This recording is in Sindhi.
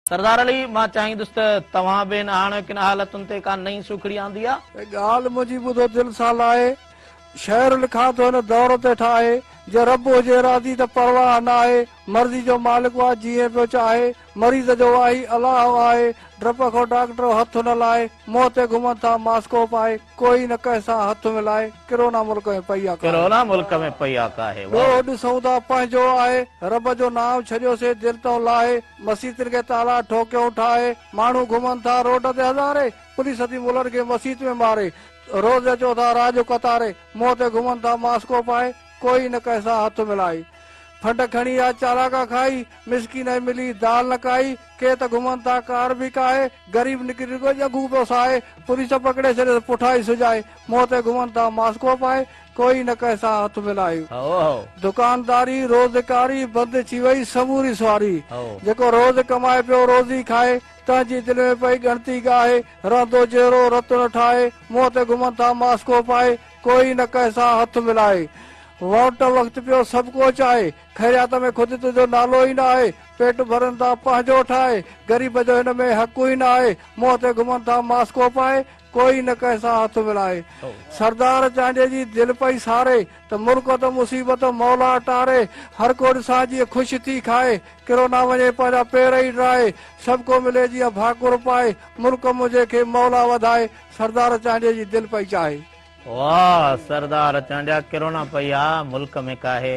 سردار علي، مان چاهيندس ته توهان به هن هاڻوڪين حالتن تي ڪا نئين سوکڙي آندي آ. هي ڳالهه منهنجي ٻڌو دل سان لاهي. شعر لکان ٿو هن دور تي ٺاهي. جي رب هجي راضي ته پرواهه ناهي. مرضي جو مالڪ واهه جيئن پيو چاهي. مريض جو واهي الله آهي. ڊپ کان ڊاڪٽر هٿ نه لائي. منهن تي گهمن ٿا ماسڪو پائي. ڪوئي نه ڪنهن سان هٿ ملائي. ڪرونا ملڪ ۾ پئي آ ڪاهي. ڪرونا ملڪ ۾ پئي آ ڪاهي. ڏوهه ڏسون ٿا پنهنجو آهي. رب جو نانء ڇڏيوسين دل تان لاهي. مسيتن کي تالا ٺوڪيون ٺاهي ماڻهو گهمن ٿا روڊ تي هزارين پوليس ٿي ملن کي مسيت ۾ ماري روز اچو ٿا رات جو قطاري منهن تي گهمن ٿا ماسڪو پائي ڪوئي نه ڪنهن سان هٿ ملائي ڦنڊ کڻي يا چالاڪا کائي مسڪين ۽ ملي دال نه کائي ڪي ته گهمن ٿا ڪار به ڪاهي غريب نڪري رڳو ڄنگهون پيو ساهي پوليس پڪڙي ڇڏيس پٺائي سجائي منهن تي گهمن ٿا ماسڪو پائي ڪوئي نه ڪنهن سان هٿ ملائي. دڪانداري روزگاري بند ٿي وئي سموري سواري جيڪو روز ڪمائي پيو روزي کائي تنهن جي دل ۾ پئي ڳڻتي ڳاهي رهندو جهيڙو رتڙ ٺاهي منهن تي گهمن ٿا ماسڪو پائي ڪوئي نه ڪنهن سان هٿ ملائي ووٽ وقت پيو سڀ ڪو چاهي خيريات ۾ خود تنهنجو نالو ئي نه آهي پيٽ ڀرن ٿا پنهنجو ٺاهي غريب جو هن ۾ حق ئي نه آهي منهن تي گهمن ٿا ماسڪو پائي ڪوئي نه ڪنهن سان هٿ ملائي. سردار چانڊيي جي دل پئي ساري. ته ملڪ ته مصيبت مولا ٽاري. هر ڪو ڏسان جيئن خوش ٿي کائي. ڪرو نا وڃي پنهنجا پير ئي ڊرائي. سڀ ڪو ملي جيئن ڀاڪر پائي. ملڪ منهنجي کي مولا وڌائي. سردار چانڊيي جي دل پئي چاهي. واهه سردار چانڊيا ڪرونا پئي آ ملڪ ۾ ڪاهي.